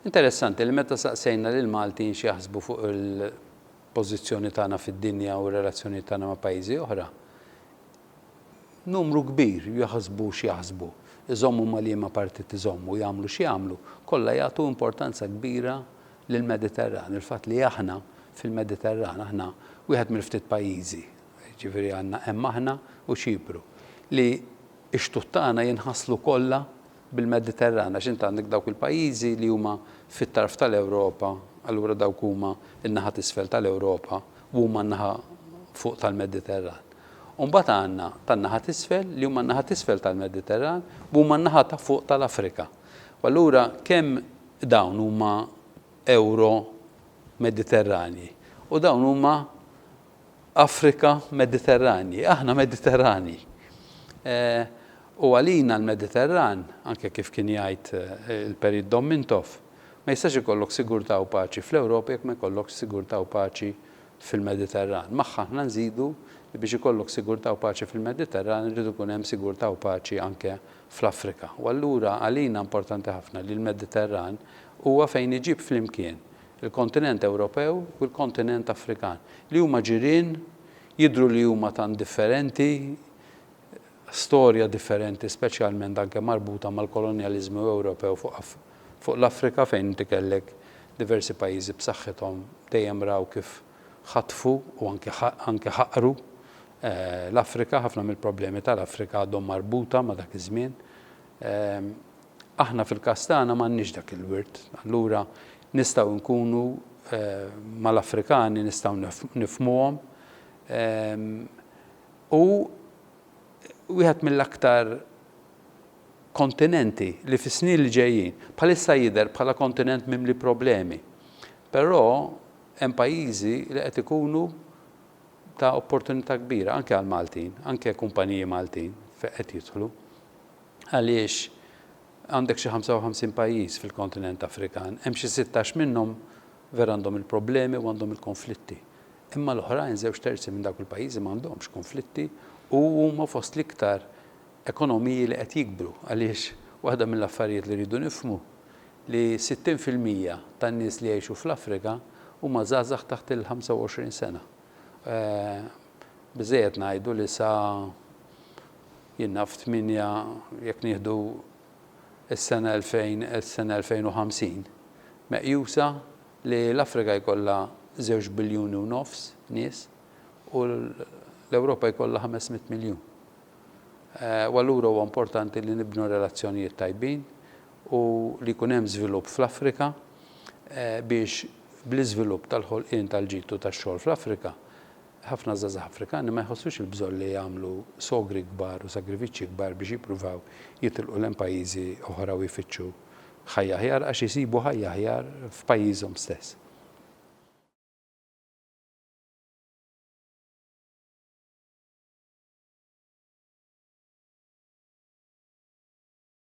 Interessanti li meta saqsejna lill-Maltin x'jaħsbu fuq il-pożizzjoni tagħna fid-dinja u r-relazzjonijiet tagħna ma' pajjiżi oħra, numru kbir jaħsbu x'jaħsbu, iżommu ma' liema partit iżommu, jagħmlu x'jagħmlu, kollha jagħtu importanza kbira lill-Mediterran, il-fatt li aħna fil-Mediterran, aħna wieħed mill-ftit pajjiżi, jiġifieri għandna hemm aħna u Ċipru, li x-xtut tagħna jinħaslu kollha bil-Mediterran għax int għandek dawk il-pajjiżi li huma fit-tarf tal-Ewropa, allura dawk huma n-naħa t'isfel tal-Ewropa u huma n-naħa fuq tal-Mediterran. U mbagħad għandna tan-naħa t'isfel li huma n-naħa t'isfel tal-Mediterran u huma n-naħa ta' fuq tal-Afrika. U allura kemm dawn huma Ewro-Mediterranji u dawn huma Afrika, Mediterranji. Aħna Mediterranji. U għalina l-Mediterran, anke kif kien jgħid il-Perit Dom Mintoff, ma jistax ikollok sigurtà u paċi fl-Ewropa jekk ma jkollokx sigurtà u paċi fil-Mediterran. Magħha aħna nżidu li biex ikollok sigurtà u paċi fil-Mediterran irid ikun hemm sigurtà u paċi anke fl-Afrika. U allura għalina importanti ħafna li l-Mediterran huwa fejn iġib flimkien il-kontinent Ewropew u l-kontinent Afrikan, li huma ġirien, jidhru li huma tant differenti, storja differenti speċjalment anke marbuta mal-kolonjaliżmu Ewropew fuq l-Afrika fejn inti kellek diversi pajjiżi b'saħħithom dejjem raw kif ħatfu u anke anke ħaqru l-Afrika, ħafna mill-problemi tal-Afrika għadhom marbuta ma' dak iż-żmien, Aħna fil-każ tagħna m'għandniex dak il-wirt. Allura nistgħu nkunu mal-Afrikani nistgħu nifhmuhom. U wieħed mill-aktar kontinenti li fis-snin li ġejjin, bħalissa jidher bħala kontinent mimli problemi, però hemm pajjiżi li qed ikunu ta' opportunità kbira anke għall-Maltin, anke kumpaniji Maltin qed jidħlu. għaliex għandek xi 55 pajjiż fil-kontinent Afrikan, hemm xi sittax minnhom vera għandhom il-problemi u għandhom il-konflitti. Imma l-oħrajn żewġ terzi minn dawk il-pajjiżi m'għandhomx konflitti u huma fost l-iktar ekonomiji li qed jikbru għaliex waħda mill-affarijiet li rridu nifhmu li 60 fil-mija tan-nies li jgħixu fl-Afrika huma żgħażagħ taħt il-25 sena. Biżżejjed ngħidu li sa Jien naf tmienja jekk nieħdu s-sena 2000 s-sena 2050, meqjusa li l-Afrika jkollha żewġ biljuni u nofs nies u l-Ewropa jkollha ħames mitt miljun. U allura huwa importanti li nibnu relazzjonijiet tajbin u li jkun hemm żvilupp fl-Afrika biex bl-iżvilupp tal-ħolqien tal-ġid u tax-xogħol fl-Afrika Ħafna żgħażagħ Afrikani ma jħossux il-bżonn li jagħmlu sogri kbar u sagrifiċċji kbar biex jippruvaw jitilqu lejn pajjiżi oħra u jfittxu ħajja aħjar għax isibu ħajja aħjar f'pajjiżhom stess.